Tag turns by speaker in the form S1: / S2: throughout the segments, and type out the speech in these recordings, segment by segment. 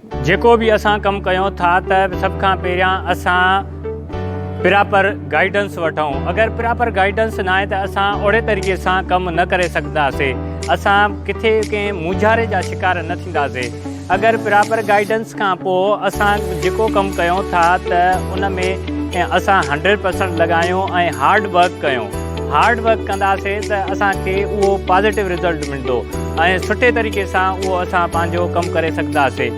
S1: جيڪو به اسان ڪم ڪيون ٿا ته سڀ کان پهريان اسان پراپر گائيڊنس وٺون اگر پراپر گائيڊنس ناهي ته اسان اهڙي طريقي سان ڪم نه ڪري سگهنداسي اسان ڪٿي ڪنهن مونجهاري جا شڪار نه ٿينداسي اگر پراپر گائيڊنس کان پوء اسان جيڪو ڪم ڪيون ٿا ته ان ۾ اسان هنڊريڊ پرسنٽ لڳايون ۽ هارڊ ورڪ ڪيون هارڊ ورڪ ڪنداسي ته اسان کي اهو پازيٽو رزلٽ ملندو ۽ سٺي طريقي سان اهو اسان پنهنجو ڪم ڪري سگهنداسي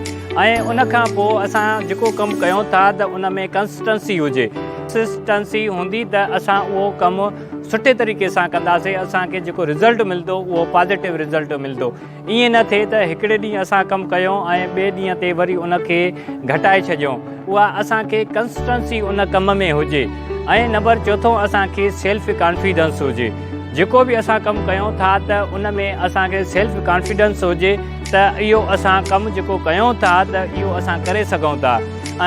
S1: ۽ ان کان پوء اسان جيڪو ڪم ڪيون ٿا ته ان ۾ ڪنسٽنسي هجي ڪنسٽنسي هوندي ته اسان اهو ڪم سٺي طريقي سان ڪنداسي اسان کي جيڪو رزلٽ ملندو اهو پازيٽو رزلٽ ملندو ائين نه ٿئي ته هڪڙي ڏينهن اسان ڪم ڪيو ۽ ٻئي ڏينهن تي وري ان کي گهٽائي ڇڏيون. اها اسان کي ڪنسٽنسي ان ڪم ۾ هجي ۽ نمبر چوٿون اسان کي سيلف ڪانفيڊنس هجي. جيڪو به اسان ڪم ڪيون ٿا ته ان ۾ اسان کي سيلف ڪانفيڊنس هجي ته اهو اسان ڪم جيڪو ڪيون ٿا ته اهو اسان ڪري سگهون ٿا.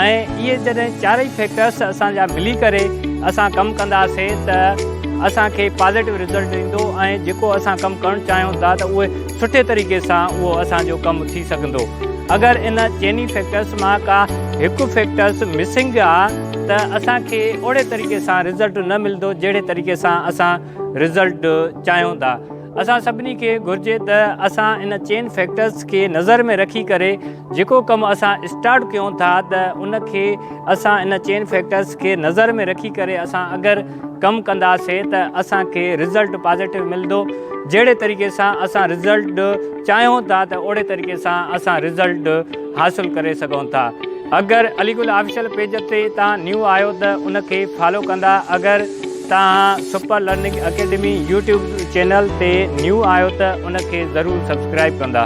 S1: ۽ اهي جڏهن چارئي فيڪٽرس اسان جا ملي ڪري اسان ڪم ڪنداسين ته اسان کي پازيٽو رزلٽ ايندو ۽ جيڪو اسان ڪم ڪرڻ چاهيون ٿا ته اهي سٺي طريقي سان اهو اسان جو ڪم ٿي سگهندو اگر ان چئني فيڪٽرس مان ڪا هڪ فيڪٽرس مسنگ آ ته اسان کي اهڙي طريقي سان رزلٽ نه ملندو جهڙي طريقي سان اسان رزلٽ چاهيون ٿا اسان سڀني کي گهرجي ته اسان ان چئن فيڪٽرز کي نظر ۾ رکي ڪري جيڪو ڪم اسان اسٽارٽ ڪيون ٿا ته ان کي اسان ان چئن فيڪٽرز کي نظر ۾ رکي ڪري اسان اگر ڪم ڪنداسي ته اسان کي رزلٽ پازيٽو ملندو جهڙي طريقي سان اسان رزلٽ چاهيون ٿا ته اوڙي طريقي سان اسان رزلٽ حاصل ڪري سگهون ٿا اگر علي گل آفيشل پيج تي تان نيو آيو ته ان کي فالو ڪندا اگر توهان super learning academy YouTube channel تي نيو آهيو ته ان کي ضرور سبسڪرائب ڪندا.